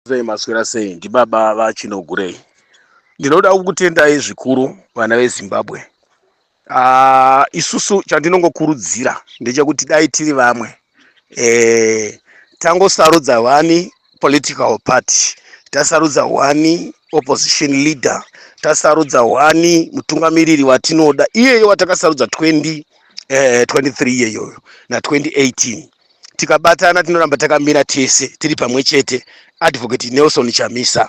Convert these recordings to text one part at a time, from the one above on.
sei maswera sei ndibaba vachinogurei ndinoda kukutendai zvikuru vana vezimbabwe uh, isusu chandinongokurudzira ndechekuti dai tiri vamwe eh, tangosarudza wani political party tasarudza wani opposition leader tasarudza wani mutungamiriri watinoda iyeye watakasarudza 20 eh, 23 iyeyoyo na 2018 tikabatana tinoramba takamira tese tiri pamwe chete advocate nelson chamisa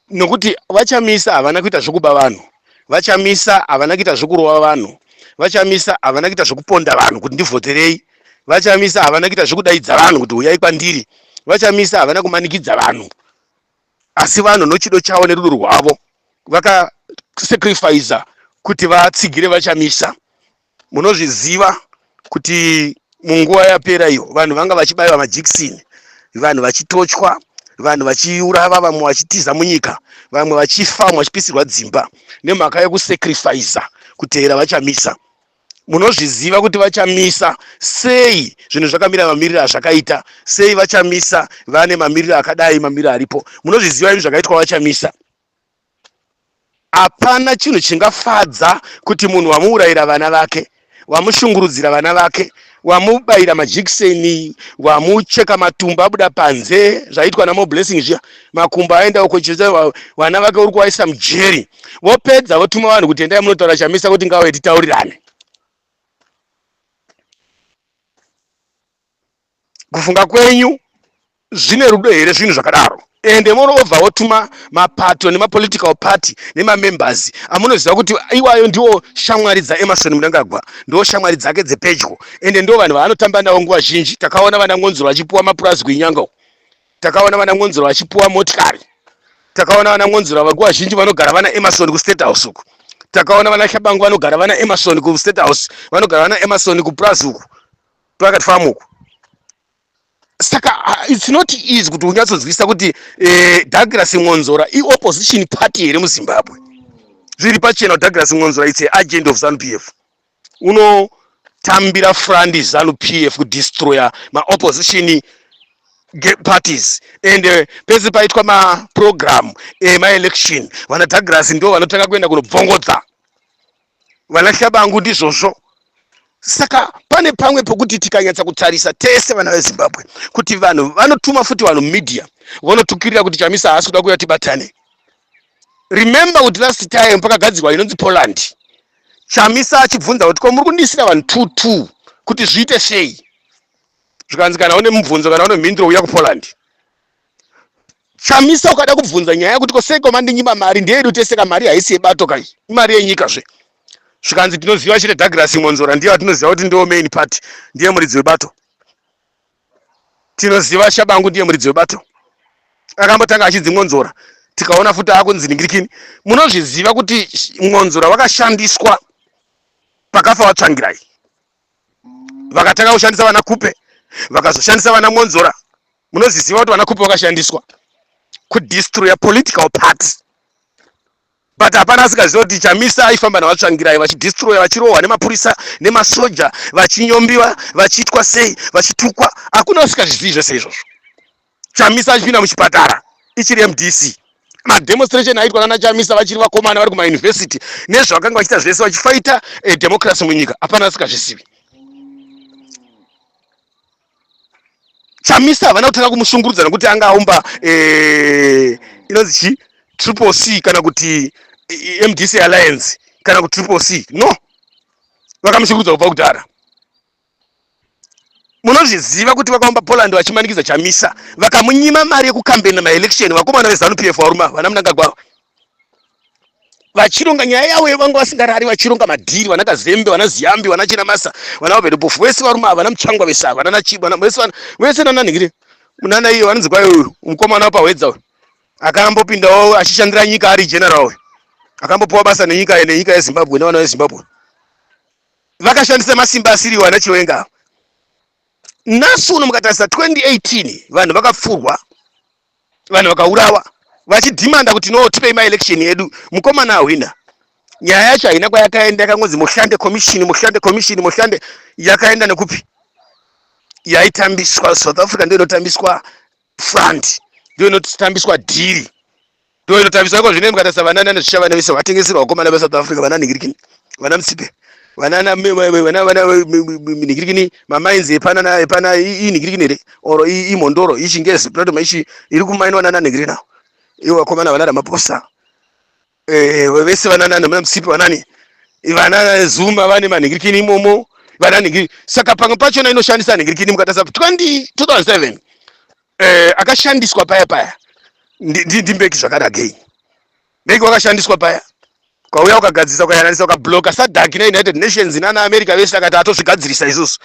nokuti vachamisa havana kuita zvekuba vanhu vachamisa havana kuita zvekurova vanhu vachamisa havana kuita zvekuponda vanhu kuti ndivhoterei vachamisa havana kuita zvekudaidza vanhu kuti huyai kwandiri vachamisa havana kumanikidza vanhu asi vanhu nochido chavo nerudo rwavo vakasacrifiza kuti vatsigire vachamisa munozviziva kuti munguva yapera iyo vanhu vanga vachibaiwa majekisini vanhu vachitochwa vanhu vachiurava vamwe vachitiza munyika vamwe vachifa vamwe vachipisirwa dzimba nemhaka yekusacrifiza kutevera vachamisa munozviziva kuti vachamisa sei zvinhu zvakamira mamiriro azvakaita sei vachamisa vane mamiriro akadai mamiriro aripo munozviziva imi zvakaitwa vachamisa Hapana chinhu chingafadza kuti munhu wamuurayira vana vake, wamushungurudzira vana vake, wamubaira majekiseni, wamucheka matumbu abuda panze zvaiitwa naMoreBlessing zviya, makumbo aenda uko chete wa- vana vake uri kuvaisa mujeri, vopedza votuma vanhu kuti endai munotaura Chamisa kuti ngauye titaurirane. kufunga kwenyu zvine rudo here zvinhu zvakadaro ende moreover wotuma mapato nemapolitical party nemamembers amunoziva kuti iwayo ndiwo shamwari dzaemarson mnangagwa ndiwo shamwari dzake dzepedyo ende ndo vanhu vaanotamba navo nguva zhinji takaona vana ngonzuro vachipuwa mapurazi kuinyango takaona vana ngonzuro vachipuwa motikari takaona vana ngonzuro vakuva zhinji vanogara vana emarson kustate house uku takaona vana shabangu vanogara vana emarson kustate house vanogara vana emarson kupurazi uku pakati famu uku saka uh, it's not easy kuti unyatsonzwisisa kuti eh, douglas mwonzora iopposition party here muzimbabwe zviri pachena kuti douglas mwonzora its agent of zanu p f unotambira frandi zanu p f kudestroya maopposition parties and uh, pese paitwa maprogramu emaelection vana douglas ndo vanotanga kuenda kunobvongodza vana shabangu ndizvozvo saka pane pamwe pokuti tikanyatsa kutarisa tese vana vezimbabwe kuti vanhu vanotuma futi vanhu media vonotukirira kuti chamisa haasi kuda kuya tibatane remember kuti last time pakagadzirwa inonzi poland chamisa achibvunza kuti ko muri kundisira vanhu two two kuti zviite sei zvikanzi kana une mubvunzo kana une mhinduro uya kupoland Chamisa ukada kubvunza nyaya kuti koseko mandinyima mari ndeyedu tese ka mari haisi yebato kai imari yenyika zve zvikanzi tinoziva chete Douglas Mwonzora ndiye atinoziva kuti ndiwo main party ndiye muridzi webato tinoziva Shabangu ndiye muridzi webato akambotanga achinzi Mwonzora tikaona futi akunzi ningirikini munozviziva kuti Mwonzora wakashandiswa pakafa watsvangirai vakatanga kushandisa vana kupe vakazoshandisa vana Mwonzora Munozviziva kuti vana Khupe vakashandiswa kudestroya political party but hapana asikaziva kuti Chamisa aifamba navatsvangirai vachidestroya vachirohwa nemapurisa nemasoja vachinyombiwa vachiitwa sei vachitukwa hakuna usikazvizivi zvese izvozvo Chamisa achipinda muchipatara ichiri MDC mademonstration aitwa nana Chamisa vachiri vakomana vari kumauniversity nezvavakanga vachiita zvese vachifaita eh, democracy munyika hapana asikazvizivi chamisa havana kutanga kumushungurudza nekuti anga aumba eh, inonzi chi triple c kana kuti eh, mdc alliance kana kuti triple c no vakamushungurudza kubva kudhara munozviziva kuti vakaumba poland vachimanikidza chamisa vakamunyima mari yekukambena maelection vakomana vezanu pf varuma vana munangagwaro vachironga nyaya yavo yevanga vasingarari vachironga madhiri vana kazembe vana ziyambi vana chinamasa vana vavedopofu vese varume ava vana muchangwa vese ava vana nachibwa vese vana vese nananhingire munana iyo vanonzi kwayo uyu mukomana wapahwedza uyu akambopindawo achishandira nyika ari general uyu akambopiwa basa nenyika nenyika yezimbabwe nevana vezimbabwe vakashandisa masimba asiriwo ana chiwenga ava nhasi uno mukatarisa 2018 vanhu vakapfurwa vanhu vakaurawa vachidhimanda kuti no tipei maelection edu mukomana ahwina nyaya yacho haina kwayakaenda yakangonzi mushande commission mushande commission mushande yakaenda nekupi yaitambiswa south africa ndio inotambiswa front ndio inotambiswa dhiri Ndiyo inotaviswa iko zvino mukatarisa vanana nezvishavane vese vatengeserwa vakomana veSouth Africa vana nigirikini vana mutsipe vanana vana vana nigirikini mamainzi epana epana iyi nigirikini here or iyi mhondoro iyi chingezi pinoto maishi iri kumainwa nana nigirikini awo iwo vakomana vana Ramaphosa eh vese vana nana muna mutsipe vanani vana Zuma vane manigirikini imomo vana nigirikini saka pamwe pachona inoshandisa nigirikini mukatarisa 20 2007 eh, akashandiswa paya paya ndimbeki zvakanagei mbeki wakashandiswa paya kwauya ukagadzirisa ukayananisa ukabloka sadak neunited nations nana america vese akati atozvigadzirisa izvozvo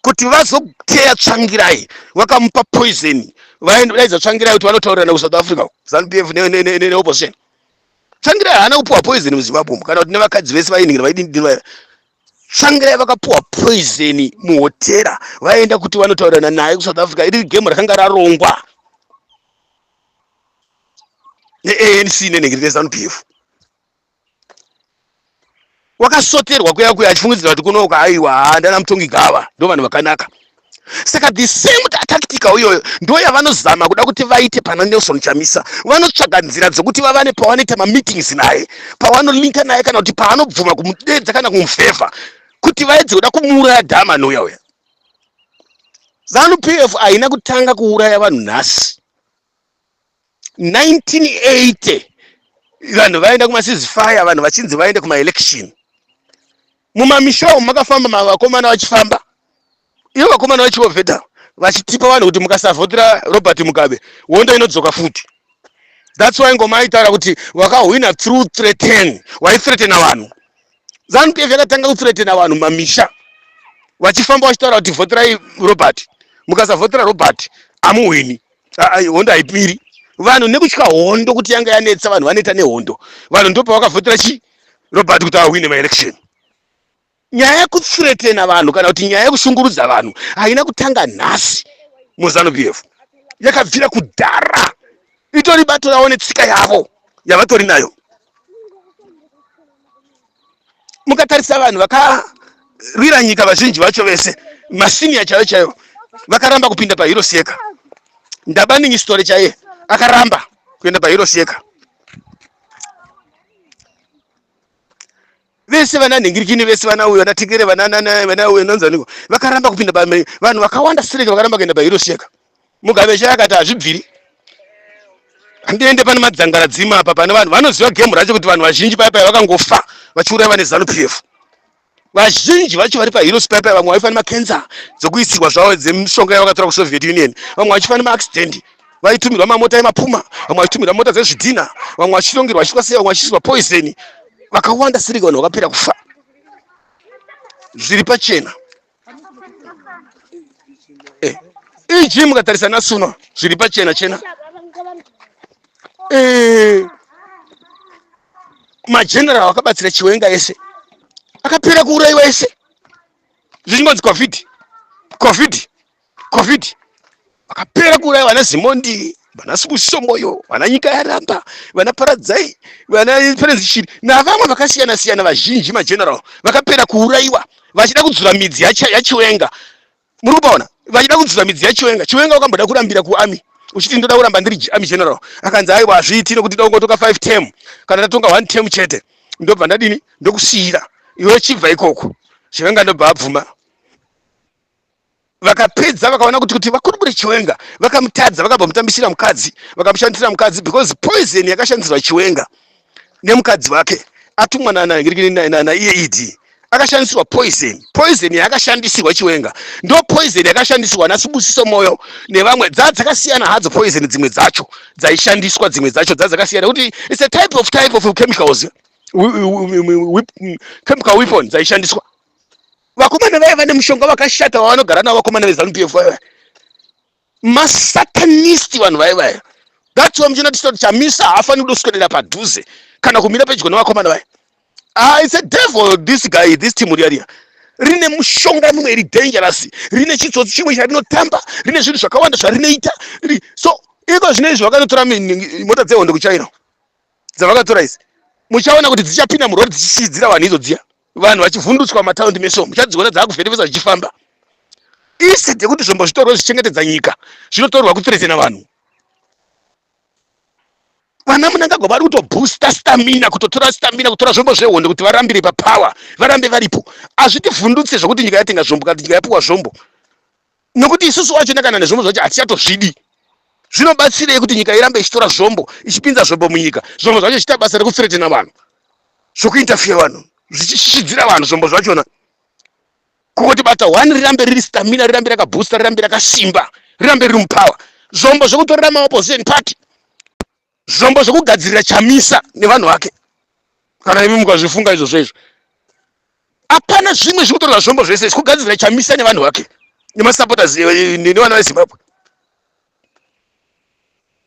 kuti vazoteya tsvangirai vakamupa poison vaendaidza tsvangirai kuti vanotaurirana kusouth africa zanp f neopposition tsvangirai haana kupiwa poison muzimbabwe umu kana kuti nevakadzi vese vainhira vaidindinwa Tsvangirai vakapuwa poison muhotera vaenda kuti vanotaurirana naye kusouth africa iri game rakanga rarongwa neanc nenhengeri nezanu p f wakasoterwa kuya kuya achifungidzira kuti kunouka aiwa haa ndana mutongi gava ndo vanhu vakanaka saka the same tactical iyoyo ndo yavanozama kuda kuti vaite pana nelson chamisa vanotsvaga nzira dzokuti vavane pavanoita mameetings naye pavanolinka naye kana kuti paanobvuma kumudedza kana kumufevha kuti vaedze kuda kumuuraya dhama nouya uya zanu p f haina kutanga kuuraya vanhu nhasi 1980 vanhu vaenda kumasizi fire vanhu vachinzi vaende kumaelection mumamisha umu makafamba mavakomana vachifamba ivo vakomana vachiovhedha vachitipa vanhu kuti mukasavhotera robert mugabe hondo inodzoka futi thats why ngoma aitaura kuti wakahwina through threaten waithreatena vanhu zanupf yakatanga kuthreatena vanhu mamisha vachifamba vachitaura kuti vhoterai robert mukasavhotera robert amuhwini hondo haipiri vanhu nekutya hondo kuti yanga yanetsa vanhu vaneta nehondo vanhu ndopa vakavhotera chi robert kuti awine maelection nyaya yekuthretena vanhu kana kuti nyaya yekushungurudza vanhu haina kutanga nhasi muzanu p f yakabvira kudhara itori bato ravo netsika yavo yavatori nayo mukatarisa vanhu vakarwira nyika vazhinji vacho vese masiniya chaiyo chaiyo vakaramba kupinda pahirosi yeka ndabaningi sitore chaiye akaramba kuenda pahirosi yeka vese vana nhingirikini vese vana uyo vanatekere vanauyo nonzaniko vakaramba kupinda vanhu vakawanda strek vakaramba kuenda pahirosi yeka Mugabe chaiye akati hazvibviri handiende pane madzangara dzima apa pane vanhu vanoziva gemu racho kuti vanhu vazhinji paya paya vakangofa vachiuraya vane zanu p f vazhinji vacho vari paheroes paya paya vamwe vaifane macancer dzekuisirwa zvavo dzemishonga yavakatora kusoviet union vamwe vachifane maaccident vaitumirwa mamota emapuma vamwe vachitumirwa mota dzezvidhina vamwe vachitongerwa vachiitwa sei vamwe vachiisirwa poison vakawanda sirika vanhu vakapera kufa zviri pachena Eh, iyi jimu ukatarisa nasuna zviri pachena chena eh, mageneral akabatsira chiwenga ese akapera kuuraiwa ese zvichingonzi covid covid Covid vakapera kuuraya vana Zimondi, vana Sibusiso Moyo, vana Nyika Yaramba, vana Paradzai, vana Perezi Shiri navamwe vakasiyana siyana vazhinji mageneral vakapera kuuraiwa vachida kudzura midzi yacha- yachiwenga muri kupaona vachida kudzura midzi yachiwenga chiwenga wakamboda kurambira kuami uchiti ndoda kuramba ndiri G- army general akanzi aiwa hazviiti nokuti da kungotonga 5 term kana ndatonga 1 term chete ndobva ndadini ndokusiyira iwe chibva ikoko chiwenga ndobva abvuma vakapedza vakaona kuti kuti vakurukure chiwenga vakamutadza vakabva mutambisira mukadzi vakamushandisira mukadzi because poison yakashandisirwa chiwenga nemukadzi wake atumwa naiyeid e akashandisirwa poison poison yaakashandisirwa chiwenga ndo poison yakashandisirwa nasibusiso moyo nevamwe dza dzakasiyana hadzo poison dzimwe dzacho dzaishandiswa dzimwe dzacho dza dzakasiyana kuti its a type of type of chemicals chemical weapon dzaishandiswa vakomana vaya vane mushonga wakashata wavanogara navo vakomana vezanu pf vaya masatanisti vanhu vaya vaya that's why muchina tisoti chamisa haafani kuda kuswedera padhuze kana kumira pedyo nevakomana vaya ah, it's a devil this guy this team riariya rine mushonga mimwe iri dangerous rine chitsotsi chimwe charinotamba rine zvinhu zvakawanda zvarinoita so iko zvine izvi vakanotora mota dzehondo kuchaira dzavakatora izi muchaona kuti dzichapinda murori dzichichidzira vanhu idzo dziya vanhu vachivhundutswa mataundi mese umu muchadziona dzaakuvhenevesa zvichifamba isi dzekuti zvombo zvitorwe zvichengetedza nyika zvinotorwa kuthretena vanhu vana munangagwa vari kutoboosta stamina kutotora stamina kutora zvombo zvehondo kuti varambire papower varambe varipo hazvitivhundutse zvekuti nyika yatenga zvombo kana nyika yapiwa zvombo nokuti isusu wachona kana nezvombo zvacho hatichatozvidi zvinobatsirei kuti nyika irambe ichitora zvombo ichipinza zvombo munyika zvombo zvacho zvichiita basa rekufretena vanhu zvokuinterfere vanhu zvichishishidzira vanhu zvombo zvachona kukoti bata one rirambe riri stamina rirambe rakaboosta rirambe rakasimba rirambe riri mupower zvombo zvekutorera maopposition party zvombo zvekugadzirira chamisa nevanhu vake kana imi mukazvifunga izvozvo izvo hapana zvimwe zvikutorwa zvombo zvese zvekugadzirira chamisa nevanhu vake nemasapotas eh, eh, nevana vezimbabwe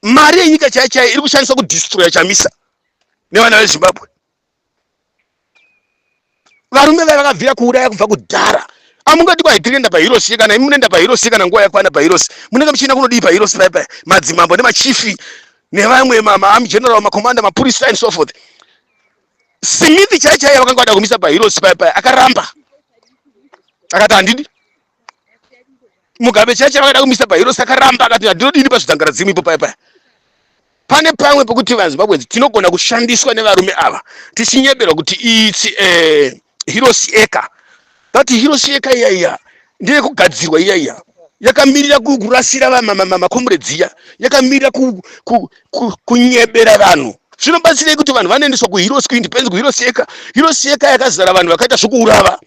mari yenyika chaichai iri kushandiswa kudistroya chamisa nevana vezimbabwe varume vaya vakabvira kuuraya kubva kudhara amungati kwaitirienda pahirosi kana imi munoenda pahirosi kana nguva yakwana pahirosi munenge muchienda kunodii pahirosi paya paya madzimambo nemachifi nevamwe maarmy general macommander mapurisa and so forth simithi chaichaiye vakanga vada kumisa pahirosi paya paya akaramba akati handidi mugabe chacho avada kumisa pahero saka ramba akati ndinodini pazvitangara dzimu ipo paya paya pane pamwe pokuti vazimbabwenzi tinogona kushandiswa nevarume ava tichinyeberwa kuti its eh, hirosi eka but hirosi eka iya iya ndeyekugadzirwa iya iya yakamirira kurasira makomuredzi iya yakamirira kunyebera vanhu zvinobatsirei kuti vanhu vanoendeswa kuhirosi kuindependence kuhirosi eka hirosi eka yakazara vanhu vakaita zvokuurava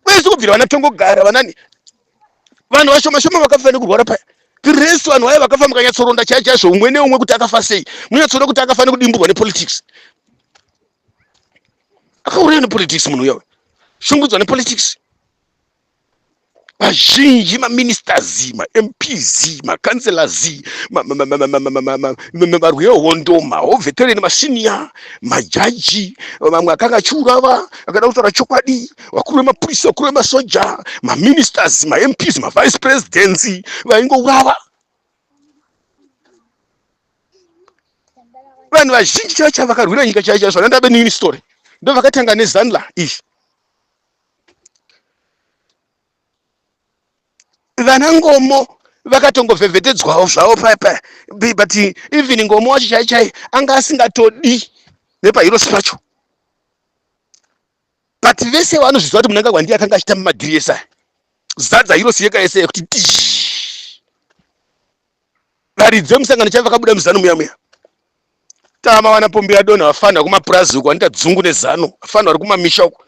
kwese kubvira vana tongogara vanani vanhu vashoma shoma vakafa nekurwara paya tiresu vanhu vaya vakafa mukanyatsoronda chaya chaizvo umwe neumwe kuti akafa sei munyatsoona kuti akafa nekudimburwa nepolitics akauraya nepolitics munhu uya shungudzwa nepolitics vazhinji maministers mamps macancelors varwi vehondo mahovetereni masiniya majaji vamwe akanga achiurava akada kutaura chokwadi vakuru vemapurisa vakuru vemasoja maministers mamps mavice presidents vaingourava vanhu vazhinji chaiva chavakarwira nyika chaiva chaiva zvana ndabe nini story ndovakatanga nezanla izvi vana ngomo vakatongovhevhetedzwawo zvavo paya paya Be- but even ngomo wacho chai chai anga asingatodi nepahirosi pacho but vese vanozviziva kuti munanga gwandiye akanga achitamba madhiri ese aya zadza hirosi yeka yese kuti tii varidzi vemusangano chaivo vakabuda muzanu muya muya tama vana pombi yadonha vafanira kumapurazi uko vanoita dzungu nezanu vafanira vari kumamisha uko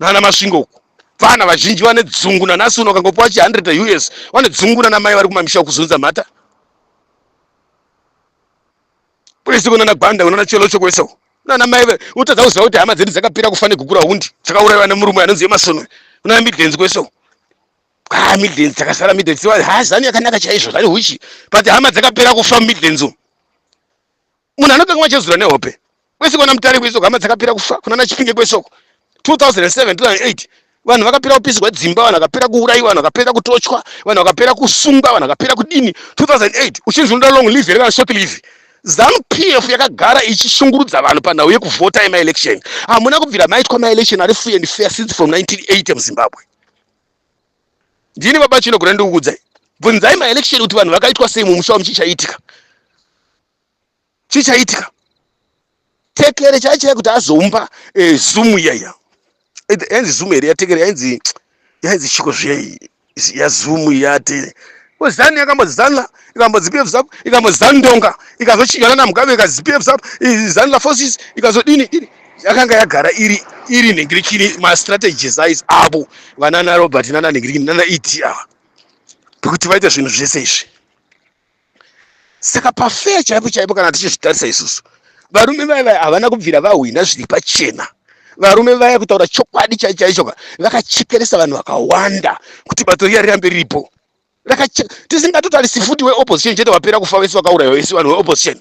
nana masvingo uko vana vazhinji vane dzungu nanasi uno kangopa vachi 100 us vane dzungu nana mai vari kumamisha kuzunza mhata kwese kunana gwanda kunana chelo chokwese uko nana mai utadza kuziva kuti hama dzedu dzakapira kufa negukura hundi dzakaurayiwa nemurume anonzi yemasonwe kunana midlenzi kwese uko ah midlands dzakasara midlands dziwa ha zanu yakanaka chaizvo zvane huchi but hama dzakapera kufa midlands umu munhu anotanga machezura nehope kwese kwana mutare kwesoko hama dzakapera kufa kuna na chipinge kwesoko 2007 2008 vanhu vakapera kupisirwa dzimba vanhu vakapera kuurayiwa vanhu vakapera kutochwa vanhu vakapera kusungwa vanhu vakapera kudini 2008 uchinzi unoda long live here kana short live zanu pf yakagara ichishungurudza vanhu panhau yekuvhota yemaelection hamuna kubvira maitwa maelection ari free and fair since from 1980 muzimbabwe ndini baba chino kuti ndikukudzai bvunzai maelection kuti vanhu vakaitwa sei mumusha wami chichaitika chichaitika tekere chaichaya kuti azomba eh, zoom iyaiya yainzi zoom here yatekere yainzi yainzi chiko zviya yazoom yate zanu yakambozana ikambodzipf zap ikambozandonga ikazochinjana namugabe ikazipf zap izanu lafosis ikazodini dini yakanga yagara iri iri nhingirikini mastrategies ais avo vanana robert nana nhingirikini nana ed ava pekuti vaita zvinhu zvese izvi saka pafeya chaipo chaipo kana tichizvitarisa isusu varume vaya vaya havana kubvira vahwina zviri pachena varume vaya kutaura chokwadi chaichaichoka vakachekeresa vanhu vakawanda kuti bato riya rirambe riripo tisingatotarisi futi weopposition chete vapera kufa vese vakauraiwa vese vanhu weopposition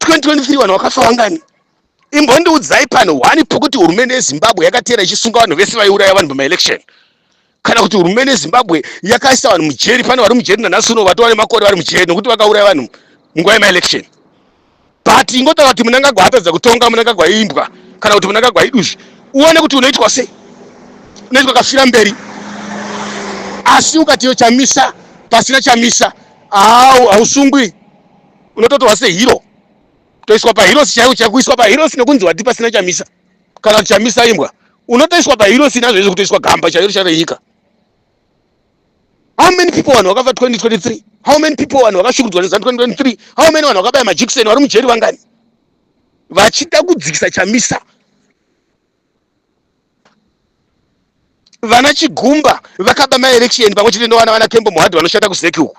2023 vanhu vakafa vangani imbondiudzai pano wani pokuti hurumende yezimbabwe yakateera ichisunga vanhu vese vaiuraya vanhu pamaelection kana kuti hurumende yezimbabwe yakaisa vanhu mujeri pane vari mujeri nanhasi uno vatova nemakore vari mujeri nokuti vakauraya vanhu munguva yemaelection but ingotaura kuti munangagwa atadza kutonga munangagwa imbwa kana kuti munangagwa iduzvi uone kuti unoitwa sei unoitwa kafira mberi asi ukatiyo chamisa pasina chamisa hausungwi unototorwa sehiro toiswa pahirosi chaiwo chaiwo kuiswa pahirosi nekunzi wati pasina chamisa kana kuti chamisa imbwa unotoiswa pahirosi nazvo izvo kutoiswa gamba chairo chairo yenyika how many people vanhu vakafa 2023 how many people vanhu vakashukudzwa neza 2023 how many vanhu vakabaya majekiseni vari mujeri vangani vachida kudzikisa chamisa vana chigumba vakaba maelection pamwe chete ndowana vana kembo muhadhi vanoshanda kuzeki uku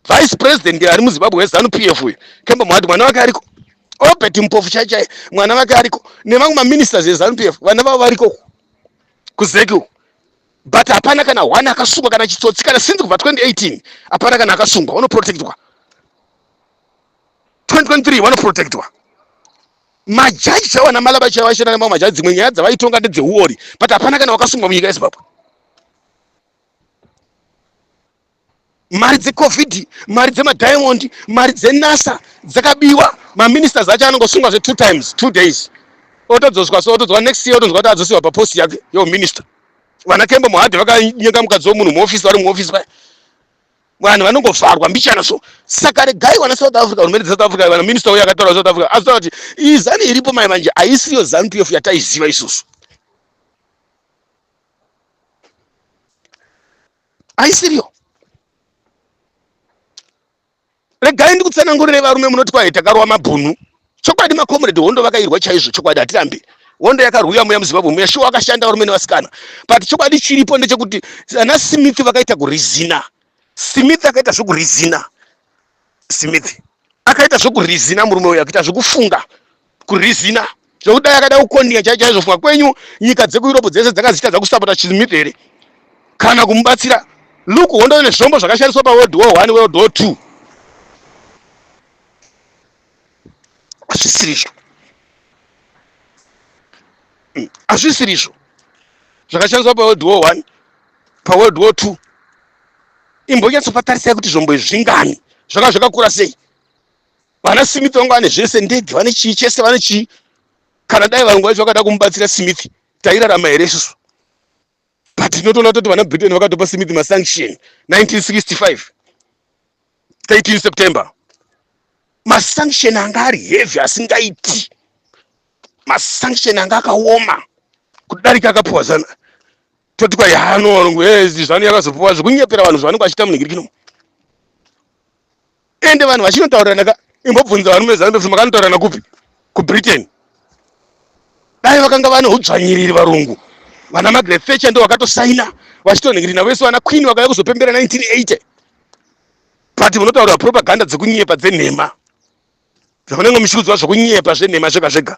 vice president ari muzimbabwe wezanu p f uyu kembo muhadhi mwana wake ariko obert mpofu chai chai mwana vake ariko nevamwe maministers ezanu p f vana vavo variko uku kuzeki uku but hapana kana one akasungwa kana chitsotsi kana sinzi kubva 2018 hapana kana akasungwa unoprotectwa 2023 vanoprotectwa majaji chaiwo ana malaba chaiwo aishanda nemamwe majaji dzimwe nyaya dzavaitonga ndedzeuori but hapana kana wakasungwa munyika yezimbabwe mari dzecovid mari dzemadiamond mari dzenasa dzakabiwa maministers acho anongosungwa zve two times two days otodzoswa so otodzwa next year otonzwa kuti adzosiwa papost yake yominister vana kembo muhadhi vakanyenga mukadzi womunhu muofisi vari muofisi paya vanhu vanongovharwa mbichana so saka regai vana south africa hurumende dzesouth africa vana minista uyo akataura south africa azotaura kuti iyi zanu iripo mai manje haisiyo zanu pf yataiziva isusu haisiriyo regai ndikutsanangurire varume munoti kwahi takarwa mabhunu chokwadi makomredi hondo vakairwa chaizvo chokwadi hatirambi hondo yakarwiwa muya muzimbabwe muya shuwa wakashanda varume nevasikana but chokwadi chiripo ndechekuti ana smith vakaita kurizina smith akaita zvekurizina smith akaita zvekurizina murume uyo akaita zvekufunga kurizina zvekudai akada kukondinga chai chaizvo funga kwenyu nyika dzekueurope dzese dzanga dzichitadza kusapota chizimiti here kana kumubatsira luke hondo nezvombo zvakashandiswa paworld war one world war two hazvisirizvo mm, hazvisirizvo zvakashandiswa paworld war one paworld war two imbonyatsopatarisai kuti zvombo izvi zvingani zvakanga zvakakura sei Vana Smith vangu vane zvese, ndege, vane chii chese, vane chii. Kana dai varungu vacho vakada kumubatsira Smith, tairarama here isusu? But tinotoona kuti vana Britain vakatopa Smith masanction 1965 13 September. Masanction anga ari heavy asingaiti. Masanction anga akaoma kudarika akapiwa zana toti kwa yano varungu hey, eh, zvanu yakazopiwa zvekunyepera vanhu zvavanenge vachita munhingirikino ende vanhu vachinotaurana ka imbobvunza varume zanu kuti makanotaurana kupi kubritain dai vakanga vane udzvanyiriri varungu vana magret thatcher ndo vakatosaina vachitonhingirina vese vana queen vakauya kuzopembera 1980 but munotaurira propaganda dzekunyepa dzenhema zvakunenge muchiudzwa zvekunyepa zvenhema zvega zvega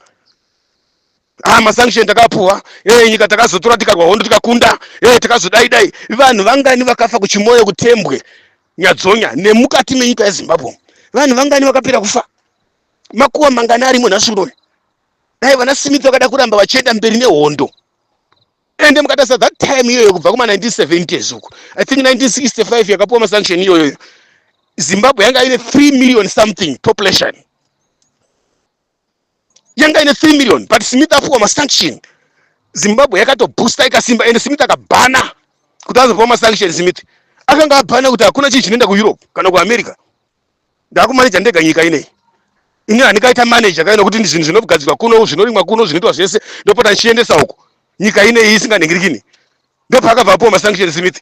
ah masanction takapuwa eh nyika takazotora tikarwa hondo tikakunda eh takazodai dai vanhu vangani vakafa kuchimoyo kutembwe Nyadzonya nemukati menyika yeZimbabwe vanhu vangani vakapera kufa makuwa mangani arimo nhasi unoyu dai vana Smith vakada kuramba vachienda mberi nehondo ende mukatasa that time iyoyo kubva kuma 1970s uku i think 1965 yakapuwa masanction iyoyo Zimbabwe yanga ine 3 million something population yanga ine 3 million but smith apuwa masanction zimbabwe yakatoboosta ikasimba ende smith akabhana kuti azopuwa masanction smith akanga abhana kuti hakuna chii chinoenda kueurope kana kuamerica ndakumaneja ndega nyika inei ini handikaita maneja kaina kuti zvinhu zvinogadzirwa kuno zvinorimwa kuno zvinoitwa zvese ndopota ndichiendesa uko nyika inei isinganhingirikini ndopaakabva apuwa masanction smith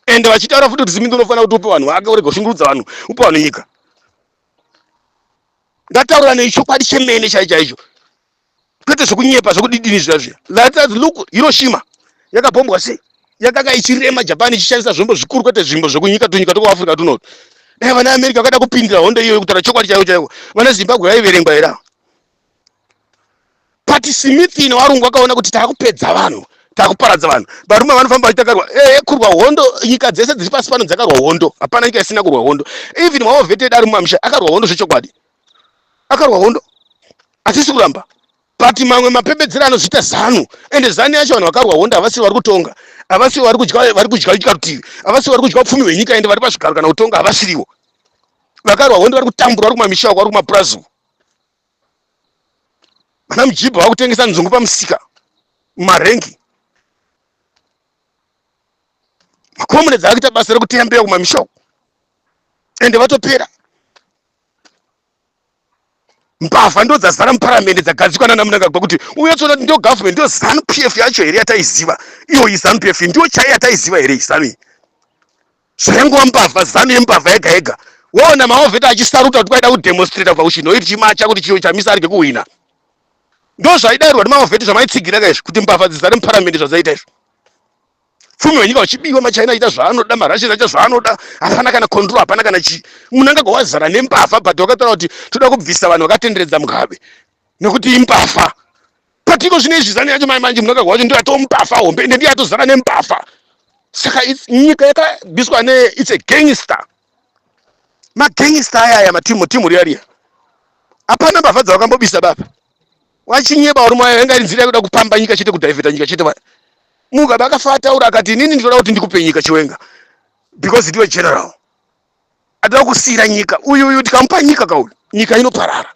ende vachitaura futi kuti smith unofanira kuti upe vanhu vake urege kushungurudza vanhu upe vanhu nyika ngataura nei chokwadi chemene chai chaicho kwete zvekunyepa zvekudidini zviya zviya that look hiroshima yakabombwa sei yakanga ichirema japan ichishandisa zvombo zvikuru kwete zvimbo zvekunyika tunyika twekuafrica tunoto dai vana america vakada kupindira hondo iyoyo kutaura chokwadi chaiwo chaiwo vana zimbabwe vaiverengwa here ava but smithini warungu wakaona kuti taakupedza vanhu takuparadza vanhu varume vanofamba vachitakarwa ee eh, kurwa hondo nyika dzese dziri pasi pano dzakarwa hondo hapana nyika isina kurwa hondo even waoveted ari mumamisha akarwa hondo zvechokwadi akarwa hondo hatisi kuramba but mamwe mapembedzero anozviita zanu ende zanu yacho vanhu vakarwa hondo havasiri vari kutonga havasiri vari kudya vari kudya nyika rutivi havasiri vari kudya upfumi hwenyika ende vari pazvigaro kana kutonga havasiriwo vakarwa hondo vari kutambura vari kumamisha uko vari kumapurazi uko Ana mujibha vakutengesa nzungu pamusika mumarengi. Makomune dzavakuita basa rekuteya mbeya kumamisha uko ende vatopera. Mbavha ndo dzazara muparamende dzagadzikwa nana Mnangagwa kuti uye tsoda kuti ndo government ndo zanu PF yacho here yataiziva iyo izanu PF ndiyo chaiya taiziva here izanu iyi Zvaingova mbavha, zanu yembavha yega yega. Woona maovheta achisaruta kuti kwaida kudemonstrator kubva kuChinhoyi tichimacha kuti Chido Chamisa arege kuhwina. Ndozvaidairwa nemaovheti zvamaitsigira ka izvi kuti mbavha dzizare muparamende zvadzaiita izvo. Pfumi wenyika uchibiwa machaina aita zvaanoda marashes aita zvaanoda hapana kana control hapana kana chii. Munangagwa wazara nembavha but wakataura kuti toda kubvisa vanhu vakatenderedza Mugabe nekuti imbavha. patiko zvine izvi zani yacho mai manje munhu akagwa wacho ndiyo atomupafa hombe ende ndiyo atozara nemupafa saka nyika yakabiswa ne its a gangster magangster aya aya matimu timu riya riya hapana mbavha dzavakambobisa baba wachinyeba uri mwayo yanga iri nzira yakuda kupamba nyika chete kudhaivheta nyika chete vaya mugabe akafa ataura akati inini ndinoda kuti ndikupe nyika chiwenga because ndiwe general Adoda kusiira nyika uyu uyu tikamupa nyika kauyu nyika inoparara.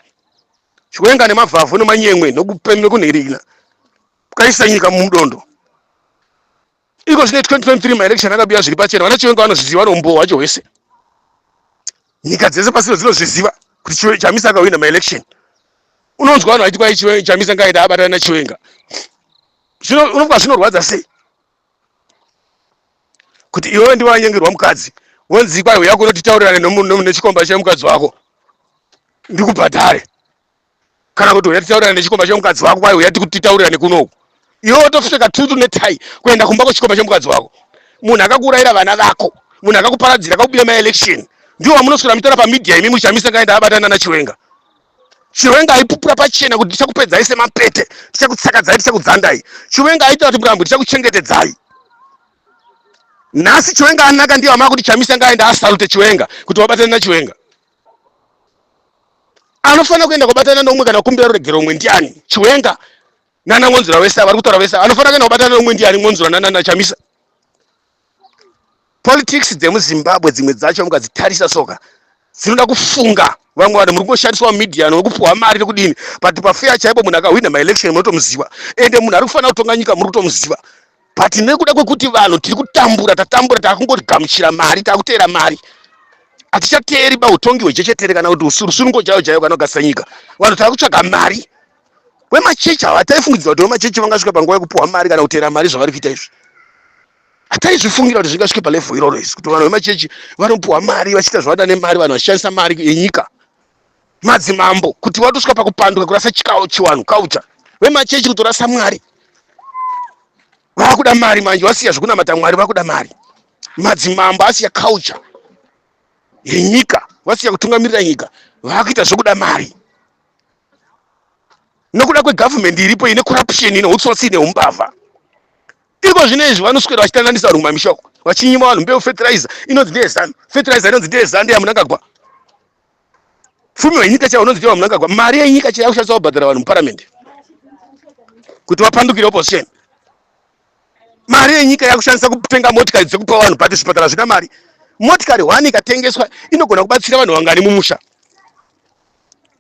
Chiwenga nemavhavhu nemanyemwe nokupembe kunherina kukaisa nyika mumudondo. Iko zvine 2023 maelection akabiya zviri pachena vana Chiwenga vanozviziva rombo wacho hwese. Nyika dzese pasino dzinozviziva kuti Chamisa akawina maelection. Unonzwa vanhu vaiti kwai Chamisa ngaida abatana naChiwenga. Zvino unobva zvinorwadza sei? kuti iwewe ndiwe wanyengerwa mukadzi wonzi kwai uya kuno titaurirane nechikomba chemukadzi wako ndikubhadhare kana kuti uya titaurirane nechikomba chemukadzi wako kwai uya titaurirane kunoku iwe wotopfeka tutu netai kuenda kumba kwechikomba chemukadzi wako munhu akakuurayira vana vako munhu akakuparadzira akakubiya maelection ndiwo wamunoswera muchitaura pamedia imi muchamisa kaenda abatana nachiwenga Chiwenga aipupura pachena kuti ndichakupedzai semapete, ndichakutsakadzai, ndichakudzandai. Chiwenga aita kuti murambwe, ndichakuchengetedzai. Nhasi Chiwenga anaka ndiye amava kuti Chamisa ngaenda asalute Chiwenga kuti wabatane naChiwenga. Anofanira kuenda kubatana neumwe kana kumbira ruregero umwe ndiani? Chiwenga nana Mwonzura vese vari kutaura vese anofanira kuenda kubatana neumwe ndiani? Mwonzura nana Chamisa. politics dzemuzimbabwe dzimwe dzacho mukadzitarisa soka dzinoda kufunga vamwe vanhu muri kungoshandiswa mumedia nokupuhwa mari nekudini but pafeya chaipo munhu akahwina maelection munotomuziva ende munhu ari kufanira kutonga nyika muri kutomuziva but nekuda kwekuti vanhu tiri kutambura tatambura takungogamuchira mari takuteera mari hatichateeri bautongi hwechechetere kana kuti rusunungo chayo chayo kana kugasira nyika vanhu tava kutsvaga mari wemachechi ava hataifungidzira kuti wemachechi vangasvika panguva yekupiwa mari kana kutera mari zvavari kuita izvi hataizvifungira kuti zvingasvike palevho iroro izvi kuti vanhu vemachechi vanopiwa mari vachiita zvavada nemari vanhu vachishandisa mari yenyika madzimambo kuti vatosvika pakupanduka kurasa chikawo chiwanhu kaucha vemachechi kutorasa mwari vakuda mari manje vasiya zvekunamata mwari vakuda mari madzimambo asiya kaucha yenyika vasiya kutungamirira nyika vakuita zvekuda mari nokuda kwegovernment iripo ine corruption ine utsotsi ine umbavha iko zvino izvi vanoswera vachitandanisa vanhu kumamisha uko vachinyima vanhu mbeu fertilizer inonzi ndeyezanu fertilizer inonzi ndeyezanu ndeyamunangagwa fumi wenyika chaiwo unonzi ndewamunangagwa mari yenyika chaiyo kushandisa kubhadhara vanhu muparamende kuti vapandukire opposition mari yenyika yakushandisa kutenga motikari dzekupa vanhu but zvipatara zvina mari motikari one ikatengeswa inogona kubatsira vanhu vangani mumusha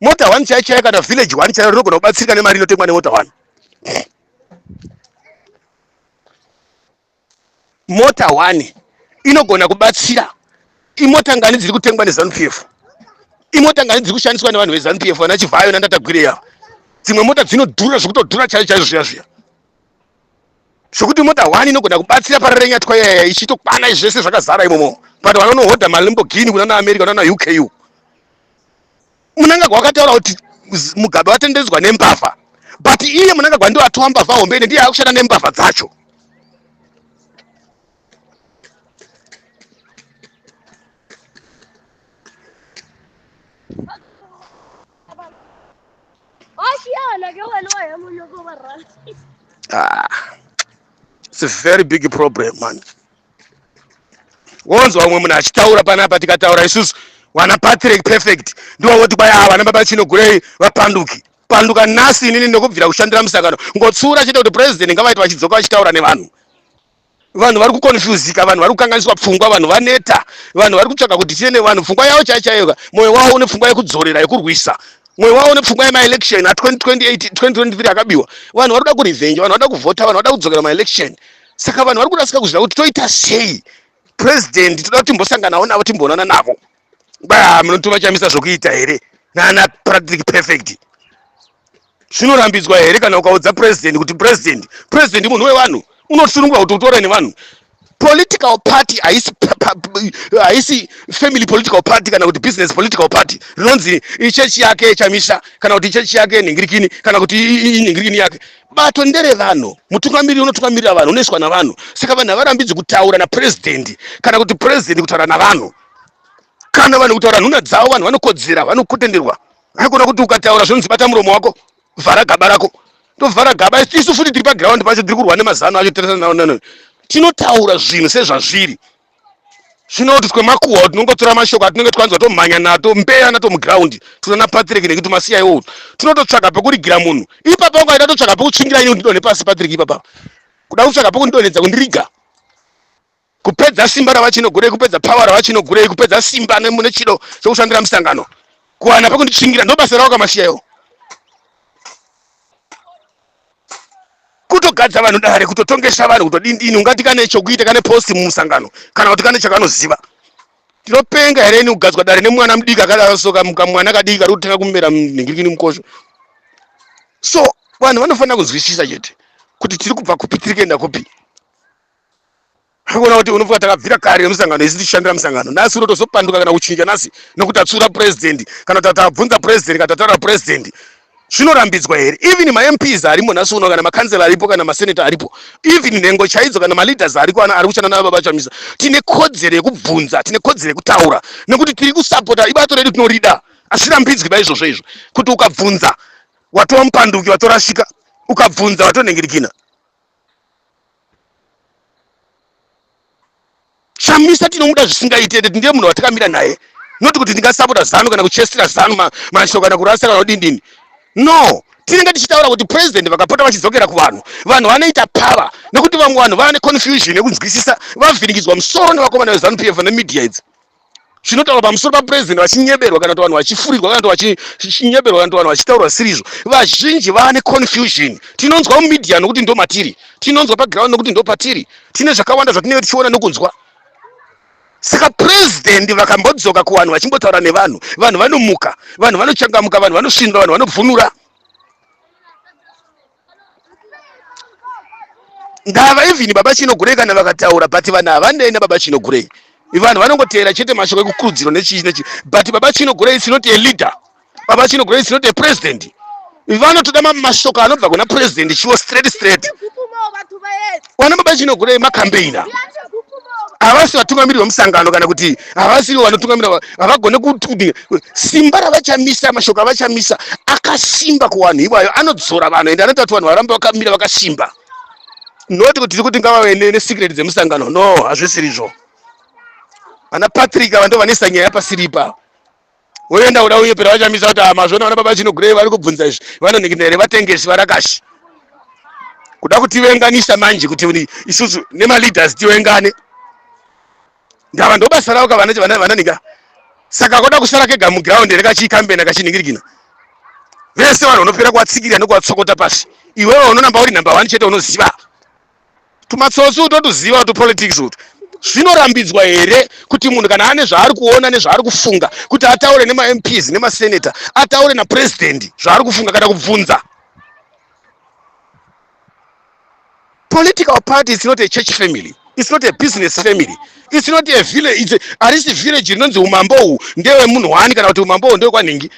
mota one chaiyo chaiyo kana village one chaiyo rinogona kubatsirika nemari inotengwa nemota one mota one inogona kubatsira imota ngani dziri kutengwa nezanu p f imota ngani dziri kushandiswa nevanhu vezanu p f vana chivhayo nandatagwirei ava dzimwe mota dzinodhura zvekutodhura chaiyo chaizvo zviya zviya zvekuti mota one inogona kubatsira pararenyatwa yaya ichitokwana izvi zvese zvakazara imomo but vanonohodha malimbogini kunana america kunana uku munangagwa wakataura kuti mugabe watendedzwa nembavha but iye munangagwa ndiwo atowa mbavha hombe ine ndiye akushanda nembavha dzacho Ah, it's a very big problem man. Wonzwa umwe munhu achitaura panapa tikataura isusu wana Patrick perfect ndiwo woti kwaya ah, wana baba chino gurei vapanduki panduka nhasi inini ndokubvira kushandira musangano ngotsura chete kuti president ngavaita vachidzoka vachitaura nevanhu vanhu vari kukonfuzika vanhu vari kukanganiswa pfungwa vanhu vaneta vanhu vari kutsvaga kuti tiine vanhu pfungwa yavo chai chaiyoka mwoyo wavo une pfungwa yekudzorera yekurwisa mwoyo wavo une pfungwa yemaelection a2028 2023 akabiwa vanhu vari kuda kurevenge vanhu vada kuvhota vanhu vada kudzokera maelection saka vanhu vari kurasika kuzvida kuti toita sei president toda kuti timbosanganawo navo timboonana navo ba munotova chamisa zvokuita here nana practic perfect zvinorambidzwa here kana ukaudza president kuti president president munhu wevanhu unosunungwa kuti utore nevanhu political party haisi haisi family political party kana kuti business political party rinonzi ichechi yake chamisa kana kuti ichechi yake nhingirikini kana kuti inhingirikini yake bato ndere vanhu mutungamiriri unotungamirira vanhu unoiswa navanhu saka vanhu havarambidzwi kutaura naprezidendi kana kuti prezidendi kutaura navanhu kana vanhu kutaura nhuna dzavo vanhu vanokodzera vanokutenderwa haikona kuti ukataura zvonzi bata muromo wako vhara gaba rako tovhara gaba isu futi tiri paground pacho tiri kurwa nemazano acho tirisananano tinotaura zvinhu sezvazviri zvinokuti twemakuhwa tinongotora mashoko atinenge twanzwa tomhanya nato mbeya nato muground tunana patrick nekuti tumasiya iwowo tinototsvaga pekurigira munhu ipapa ungaita totsvaga pekutsvingira ini kundidonhe pasi patrick ipapa kuda kutsvaga pekundidonhedza kundiriga kupedza simba ravachinogurei kupedza power ravachinogurei kupedza simba nemune chido chokushandira misangano kuwana pekunditsvingira ndobasa ravo kamasiya iwo kutogadza vanhu dare kutotongesa vanhu kutodindini ungati kane chokuita kane posti mumusangano kana kuti kane chakanoziva tinopenga here ini kugadzwa dare nemwana mudiki akadaro so kamwana kadiki kari kutanga kumera mhingirikini mukosho so vanhu vanofanira kunzwisisa chete kuti tiri kubva kupi tiri kuenda kupi Hakuona kuti unofunga takabvira kare nemusangano isu tichishandira musangano nhasi unotozopanduka kana kuchinja nhasi nekuti tatsura president kana tatavabvunza president kana tataura president zvinorambidzwa here even mamps arimo nhasi uno kana makansela aripo kana maseneta aripo even nhengo chaidzo kana maleaders ariko ana ari kushanda navo baba chamisa tine kodzero yekubvunza tine kodzero yekutaura nekuti tiri kusapota ibato redu tinorida asirambidzwi baizvozvo izvo kuti ukabvunza watova mupanduki watorasika ukabvunza watonhingirikina chamisa tinomuda zvisingaiti ende ndiye munhu watakamira naye not kuti ndingasapota zanu kana kuchestira zanu mashoko kana kurasa kana kudindini no tinenge tichitaura kuti president vakapota vachidzokera kuvanhu vanhu vanoita power nekuti vamwe vanhu vane confusion yekunzwisisa vavhirikidzwa musoro nevakomana vezanu pf nemedia idzi chinotaurwa pamusoro papurezidendi vachinyeberwa kana kuti vanhu vachifurirwa kana kuti vachinyeberwa kana kuti vanhu vachitaurwa sirizvo vazhinji vane confusion tinonzwa mumedia nokuti ndo matiri tinonzwa paground nokuti ndo patiri tine zvakawanda zvatinenge tichiona nokunzwa saka purezidendi vakambodzoka kuvanhu vachimbotaura nevanhu vanhu vanomuka vanhu vanochangamuka vanhu vanosvinura vanhu vanobvunura ngava even baba chinogurei kana vakataura but vanhu havandei nababa chinogurei vanhu vanongoteera chete mashoko ekukurudziro nechii nechii but baba chinogurei is not a leader baba chinogurei is not a president vanotoda mashoko anobva kuna president chiwo straight straight wana baba chino kuda makambeina havasi vatungamiriri vemusangano kana kuti havasi ivo vanotungamirira havagone kuti simba ravachamisa mashoko avachamisa akasimba kuvanhu iwayo anodzora vanhu ende anoita kuti vanhu varambe vakamira vakasimba not kuti tiri kuti ngavave nesecret dzemusangano no hazvisiri zvo vana patrick ava ndo vanesa nyaya yapasiripa woenda kuda uye pera vachamisa kuti amazvona ah, vana baba chinogurei vari kubvunza izvi vanonhikina here vatengesi varakashi kuda kutivenganisa manje kuti isusu nemaleaders tivengane ndava ndobasa ravo ka vananhika saka koda kusara kega muground here kachiikambena kachinhingirikina vese vanhu vanopera kuvatsikirira nekuvatsokota pasi iwewe unonamba uri number one chete unoziva tumatsotsi utotuziva utu politics utu zvinorambidzwa here kuti munhu kana ane zvaari kuona nezvaari kufunga kuti ataure nemamps nemasenator ataure napurezidendi zvaari kufunga kana kubvunza political party is not a church family it's not a business family it's not a village arisi village rinonzi umambo uhu ndewemunhu wani kana kuti umambo uhu ndewekwanhingi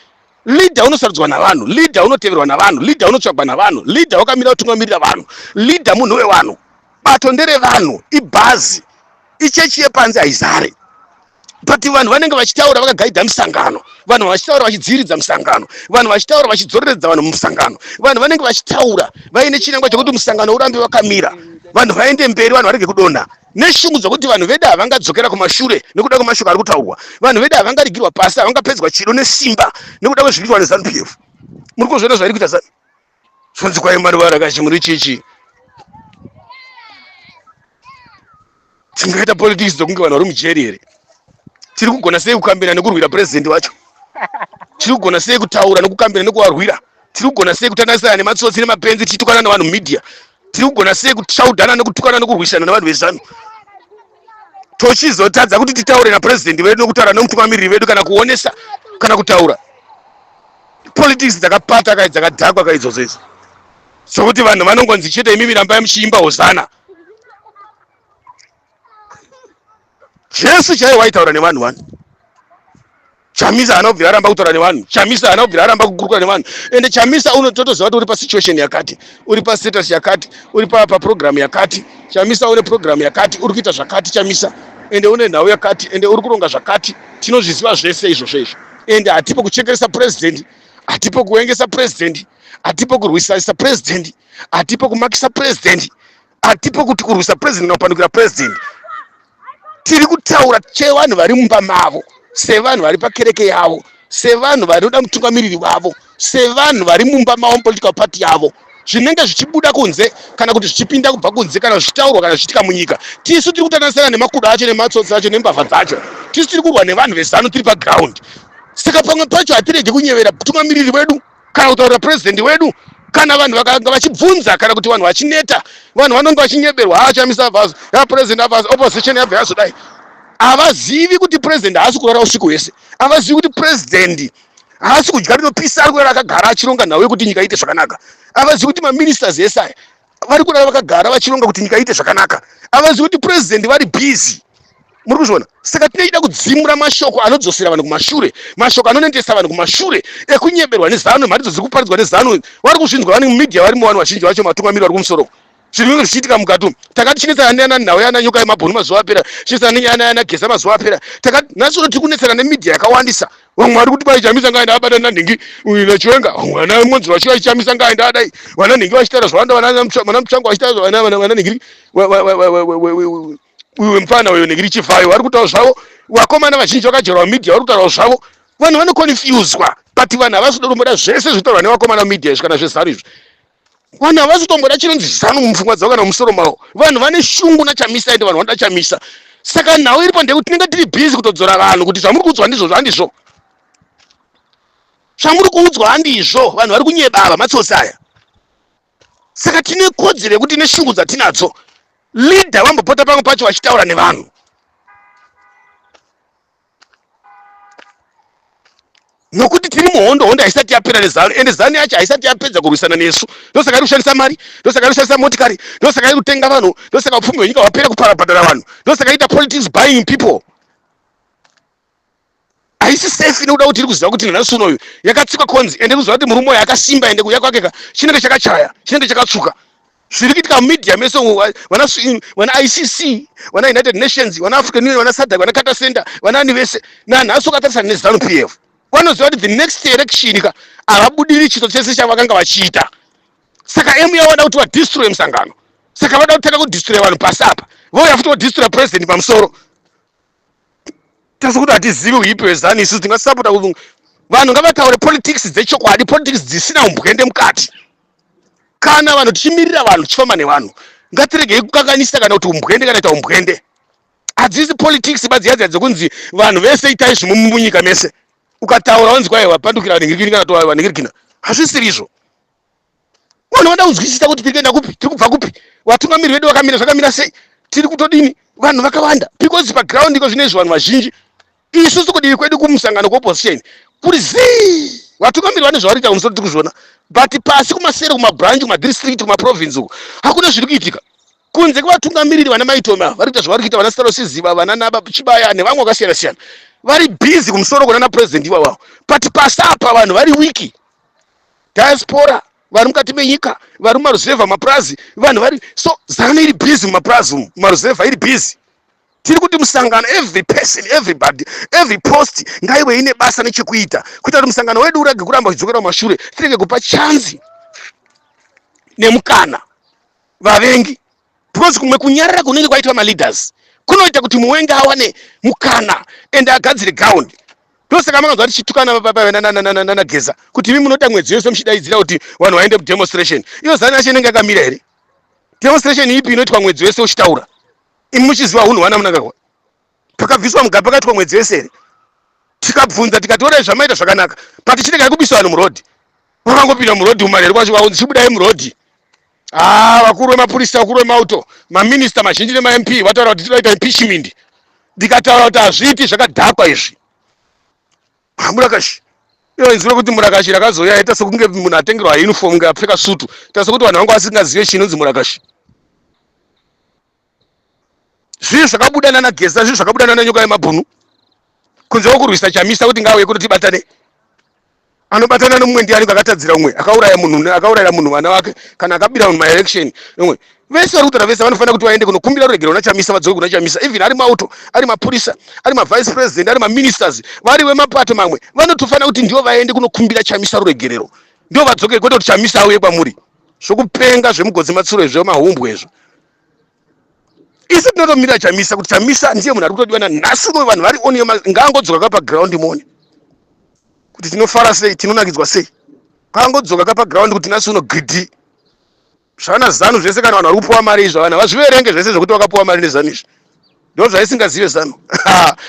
Leader unosarudzwa navanhu, leader unoteverwa navanhu, leader unotsvagwa navanhu, leader wakamira kutungamirira vanhu, leader munhu wevanhu. Bato nderevanhu, ibhazi, ichechi yepanze haizare but vanhu vanenge vachitaura vakagaidha misangano vanhu vachitaura vachidziviridza misangano vanhu vachitaura vachidzororedza vanhu mumusangano vanhu vanenge vachitaura vaine chinangwa chekuti musangano urambe wakamira vanhu vaende mberi vanhu varege kudonha neshungu dzokuti vanhu vedu havangadzokera kumashure nekuda kwemashoko ari kutaurwa vanhu vedu havangarigirwa pasi havangapedzwa chido nesimba nekuda kwezviri kuitwa nezanu p f muri kuzviona zvairi kuita zanu zvonzi kwai mwari varakachi muri chichi tingaita politics dzokunge vanhu vari mujeri here tiri kugona sei kukambira nekurwira purezidenti wacho tiri kugona sei kutaura nekukambira nekuvarwira tiri kugona sei kutanasirana nematsotsi nemapenzi tichitukana nevanhu media tiri kugona sei kutsvaudana nekutukana nekurwisana nevanhu vezanu tochizotadza kuti titaure napurezidendi vedu nokutaura nemutungamiriri vedu kana kuonesa kana kutaura politics dzakapata kai dzakadhakwa kai idzodzo idzo sokuti vanhu vanongonzi chete imimi rambai muchiimba hosana Jesu chaiye waitaura nevanhu wani chamisa haana kubvira aramba kutaura nevanhu chamisa haana kubvira aramba kukurukura nevanhu ende chamisa unototoziva kuti uri pasituation yakati uri pastatus yakati uri paprogramu yakati chamisa une programu yakati uri kuita zvakati chamisa ende une nhau yakati ende uri kuronga zvakati tinozviziva zvese izvozvo izvo ende hatipo kuchekeresa purezidendi hatipo kuengesa purezidendi hatipo kurwisarisa purezidendi hatipo kumakisa purezidendi hatipo kuti kurwisa president kana kupandukira president tiri kutaura chevanhu vari mumba mavo sevanhu vari pakereke yavo sevanhu vanoda mutungamiriri wavo sevanhu vari mumba mavo mupolitical party yavo zvinenge zvichibuda kunze kana kuti zvichipinda kubva kunze kana zvichitaurwa kana zvichiitika munyika tisu tiri kutananisana nemakudo acho nematsotsi acho nembavha dzacho tisu tiri kurwa nevanhu vezanu tiri paground saka pamwe pacho hatirege kunyevera mutungamiriri wedu kana kutaurira president wedu kana vanhu vakanga vachibvunza kana kuti vanhu vachineta vanhu vanonge vachinyeberwa haa chamisa avazo ya president avazo opposition yabva yazodai havazivi kuti president haasi kurara usiku hwese havazivi kuti president haasi kudya rinopisa ari kurara akagara achironga nhau yekuti nyika iite zvakanaka havazivi kuti maministers ese aya vari kurara vakagara vachironga kuti nyika iite zvakanaka avazivi kuti purezidendi vari bhizi muri kuzviona saka tinoida kudzimura mashoko anodzosera vanhu kumashure mashoko anonendesa vanhu kumashure ekunyeberwa nezanu mharidzo dziri kuparidzwa nezanu vari kuzvinzwa vani mumedia varimo vanhu vazhinji vacho matungamiri vari kumusoro zvinhu inge zvichiitika mukati umu takati chinetsana neana nhau yana nyoka yemabhunu mazuva apera chinetsana nenyaya yana geza mazuva apera takati nhasi uno tiri kunetsana nemedia yakawandisa vamwe vari kuti vaichamisa ngaenda abata nanhingi uyu nachiwenga vana monzi vachi vaichamisa ngaenda adai vana nhingi vachitaura zvawanda vana muchango vachitaura vana nhingi uyu mfana uyo nhingi richifayo vari kutaura zvavo vakomana vazhinji vakajerwa media vari kutaura zvavo vanhu vanoconfuswa but vanhu havasi kuda kumboda zvese zvitaurwa nevakomana media izvi kana zvezanu izvi vanhu havasi kutomboda chinonzi zanu mupfungwa dzavo kana mumusoro mavo vanhu vane shungu nachamisa ende vanhu vanoda chamisa saka nhau iripo ndeyekuti tinenge tiri busy kutodzora vanhu kuti zvamuri kuudzwa handizvo zvandizvo zvamuri kuudzwa handizvo vanhu vari kunyeba ava matsotsi aya saka tine kodzero yekuti ine shungu dzatinadzo leader vambopota pamwe pacho vachitaura nevanhu nokuti tiri muhondo hondo haisati yapera nezanu ende zanu yacho haisati yapedza kurwisana nesu ndosaka iri kushandisa mari ndosaka iri kushandisa motikari ndosaka iri kutenga vanhu ndosaka upfumi hwenyika hwapera kuparabhadhara vanhu ndosaka ita politics buying people haisi safe nekuda kuti iri kuziva kuti nanhasi unoyu yakatsikwa konzi ende iri kuziva kuti murume uyo akasimba ende kuya kwake ka chinenge chakachaya chinenge chakatsvuka zviri kuitika mumedia mese vana icc vana united nations vana african union vana sadak vana cata center vanaani vese nanhasi ukatarisana nezanu p f vanoziva kuti the next election ka havabudiri chito chese chavakanga vachiita saka emu yavo vada kuti vadistroye musangano saka vada kutanga kudistroya vanhu pasi apa vouya futi vodistroya president pamusoro tese kuti hatizivi uipi wezanu isu tingasapota kuvunga vanhu ngavataure politics dzechokwadi politics dzisina umbwende mukati kana vanhu tichimirira vanhu tichifamba nevanhu ngatiregei kukanganisa kana kuti umbwende kana ita umbwende hadzisi politics badziyadziya dzekunzi vanhu vese itai zvimunyika mese ukataura wanzi kwaiwa pandukira vanhingirikini kana toaiwa nhingirikina hazvisirizvo vanhu vanoda kunzwisisa kuti tiri kuenda kupi tiri kubva kupi vatungamiri vedu vakamira zvakamira sei tiri kutodini vanhu vakawanda because paground iko zvinoizvi vanhu vazhinji isusu kudivi kwedu kumusangano kweopposition kuri zii vatungamiri vane zvavari kuita kumusoro tiri kuzviona but pasi kumasere kumabranch kumadistrict kumaprovince uko hakuna zviri kuitika kunze kwevatungamiriri vana maitoma vari kuita zvavari kuita vana starosiziva vana naba chibaya nevamwe vakasiyana siyana vari busy kumusoro kona napresident iwawavo but pasi apa vanhu vari wiki diaspora vari mukati menyika vari mumaruzevha mapurazi vanhu vari so zanu iri busy mumapurazi umu maruzevha iri busy tiri kuti musangano every person everybody every post ngaive ine basa nechekuita kuita kuti musangano wedu urege kuramba uchidzokera kumashure tirege kupa chanzi nemukana vavengi because kumwe kunyarara kunenge kwaitwa maleaders kunoita kuti muwenge awane mukana ende agadzire ground ndosaka makanzwa tichitukana nanageza kuti imi munota mwedzi yose muchidaidzira kuti vanhu vaende kudemonstration iyo zani yacho inenge yakamira here demonstration ipi inoitwa mwedzi wese uchitaura imi muchiziva hunhu hwana munakahwa pakabviswa mugabe pakaitwa mwedzi wese here tikabvunza tikatorai zvamaita zvakanaka but chiregai kubisa vanhu murodhi vakangopinda murodhi umareri kwacho vaunzi chibudai murodhi Ah, vakuru vemapurisa, vakuru vemauto, maminista mazhinji nemaMP vataura kuti tinoita impeachment. Ndikataura kuti hazviiti zvakadhakwa izvi. Ah, Murakashi. Iyo inzwi rekuti murakashi rakazouya yaita sekunge munhu atengerwa uniform kunge apfeka sutu. Ita sekuti vanhu vanga vasingazive chinonzi murakashi. zvinhu zvakabuda nana geza zvinhu zvakabuda nana nyoka yemabhunu kunze kwekurwisa chamisa kuti ngauye kuti tibatane anobatana nomumwe ndiani kakatadzira umwe akauraya munhu akaurayira munhu vana vake kana akabira munhu maelection umwe vese vari kutaura vese vanofanira kuti vaende kunokumbira ruregerero kuna chamisa vadzoke kuna chamisa even ari mauto ari mapurisa ari mavice president ari maministers vari vemapato mamwe vanotofanira kuti ndivo vaende kunokumbira chamisa ruregerero ndivo vadzoke kwete kuti chamisa auye kwamuri zvokupenga zvemugodzi matsuro izvo mahumbwe izvo isu tinotomira chamisa kuti chamisa ndiye munhu ari kutodiwa nanhasi unoyo vanhu vari oniyo ngaangodzoka ka paground mone kuti tinofara sei tinonakidzwa sei ngaangodzoka ka paground kuti nhasi uno gidi zvana zanu zvese kana vanhu vari kupiwa mari izvo vanhu havazviverenge zvese zvekuti vakapiwa mari nezanu izvi ndo zvaisingazive zanu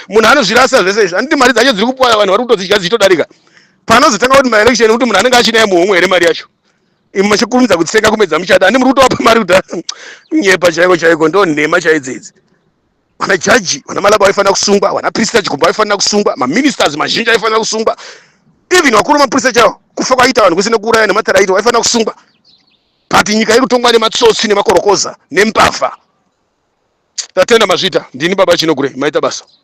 munhu anozvirasa zvese izvi handiti mari dzacho dziri kupiwa vanhu vari kutodzidya dzichitodarika panozotanga kuti maelection kuti munhu anenge achinaye muhomwe here mari yacho Imwe machikurumidza kutsenga kumedza muchada ani muri kutoapa mari kuda nyepa chaiko chaiko ndo nhema chaidzo idzi vana jaji vana malaba vaifanira kusungwa vana prista chikumba vaifanira kusungwa maministers mazhinji aifanira kusungwa even vakuru mapurisa chavo kufa kwaita vanhu kusina kuuraya nematara aitwa vaifanira kusungwa but nyika iri kutongwa nematsotsi nemakorokoza nembavha tatenda mazvita ndini baba chinogure maita basa